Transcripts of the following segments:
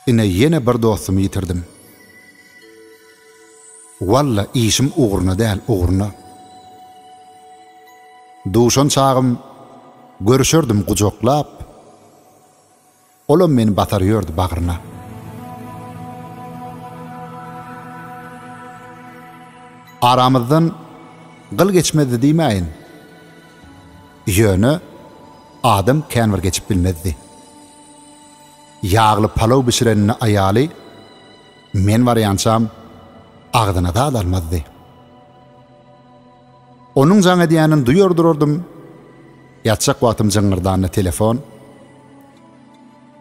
Ine ýene bir dostumy ýitirdim. Walla işim ugruna däl, ugruna. Duşan çagym görüşerdim gujaklap. Olam meni basar ýördi bagryna. Aramyzdan gyl geçmezdi diýmäýin. Ýöne adam kän bir geçip bilmezdi. Ýagly palaw bişirenini aýaly men barýançam agzyna zat almazdy. Onuň jaň edýänini duýar durardym. Ýatjak wagtym jyňňyrdanda telefon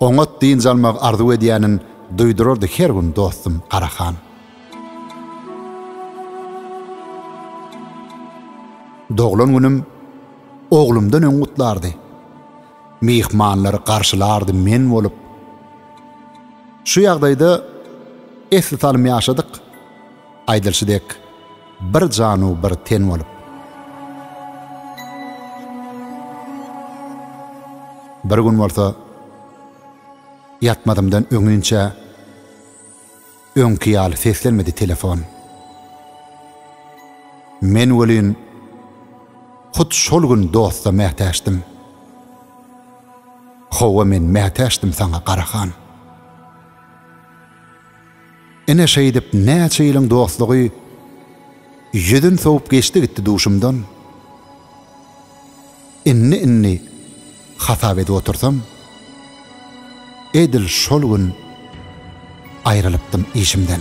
oňat dynç almagy arzuw edýänin duýdurardy her gün dostum Garahan. Doglan günüm oglumdan öň gutlardy. Myhmanlary garşylardy men bolup. Şu ýagdaýda esli salym ýaşadyk. Aýdylyşy dek, bir janu bir ten bolup. Bir gün bolsa ýatmazymdan öňinçä öňki ýaly seslenmedi telefon. Men welin hut şol gün dosta mätäçdim. Hawa men mätäçdim saňa Garahan. Ine şeýdip näçe ýylyň dostlugy Ýüzün sowup geçdi gitdi duşumdan Indi indi hasap edip otursam Edil şol gün aýrylypdym işimden.